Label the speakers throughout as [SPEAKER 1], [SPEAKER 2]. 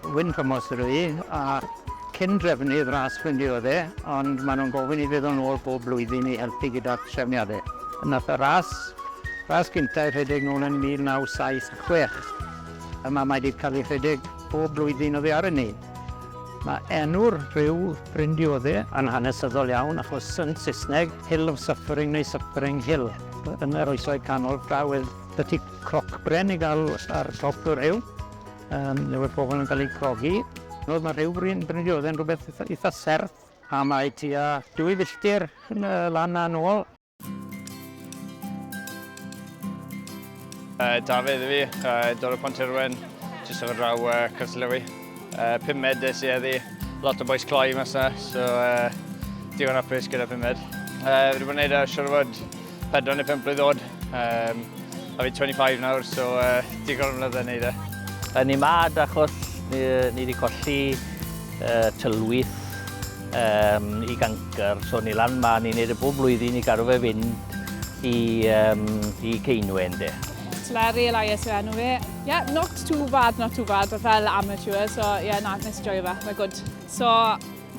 [SPEAKER 1] Wyn Thomas ydw i, a cyn drefnydd ras Ffrindiau oedd e, ond maen nhw'n gofyn i fydd o'n ôl bob blwyddyn i helpu gyda trefniadau. Yna y ras, ras gyntaf i rhedeg nôl yn 1976. Yma mae wedi cael ei rhedeg bob blwyddyn oddi ar hynny. Mae enw'r rhyw Bryndiodde yn hanesyddol iawn achos yn Saesneg, Hill of Suffering neu Suffering Hill, yn yr Oesoedd Canol, draw i'r y tu crocbren i gael ar top y rhyw, um, le oedd pobl yn cael eu crogi. Oedd mae rhyw Bryn, Bryndiodde yn rhywbeth eitha serth a mae tua dwy filltir lan a'n ôl.
[SPEAKER 2] Uh, Dafydd i fi, uh, dod o Pont Irwen, jyst o'r raw uh, Cyslewi. Uh, pum med des i eddi, lot o boes cloi mas na, so uh, digon apus gyda pum med. Uh, fi wedi bod yn gwneud uh, siwr fod 4 neu 5 blwydd oed. Um, a fi 25 nawr, so uh, digon o mlynedd yn neud e. Ni mad achos
[SPEAKER 3] ni, ni wedi colli uh, tylwyth um, i gancr. So ni lan ma, ni'n neud y bob blwyddyn i garw fe fynd i, um, i Ceinwen de. Larry Elias
[SPEAKER 4] yw enw fe. Yeah, not too bad, not too bad, fel amateur, so yeah, na, nes i joio fe, mae'n good. So,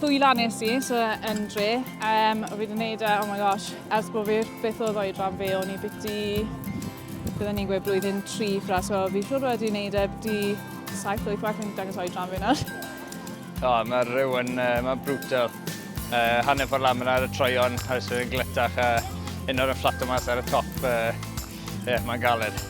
[SPEAKER 4] ddwy lan nes i, so yn dre, um, o fi wedi gwneud e, oh my gosh, ers bod fi beth oedd oedran fe, o'n i biti Bydden ni'n gweud blwyddyn tri ffra, so fi siwr wedi wneud e di 7-8 waith yn dangos o'i dran fi nawr. O, mae
[SPEAKER 2] rhyw yn, uh, mae brutal. Uh, hanner ffordd lan ar y troion, a ys yn gletach, a un o'r yn fflat o mas ar y top. Ie, uh, yeah, mae'n galed.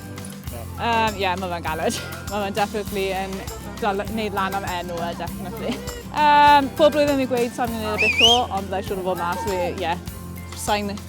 [SPEAKER 2] Ie, um,
[SPEAKER 4] yeah, mae fe'n galed. Mae fe'n definitely yn wneud lan am enw e, definitely. Um, pob blwyddyn fi'n gweud sa'n mynd i'r bit o, ond byddai siwr o fod mas, ie, yeah, sa'n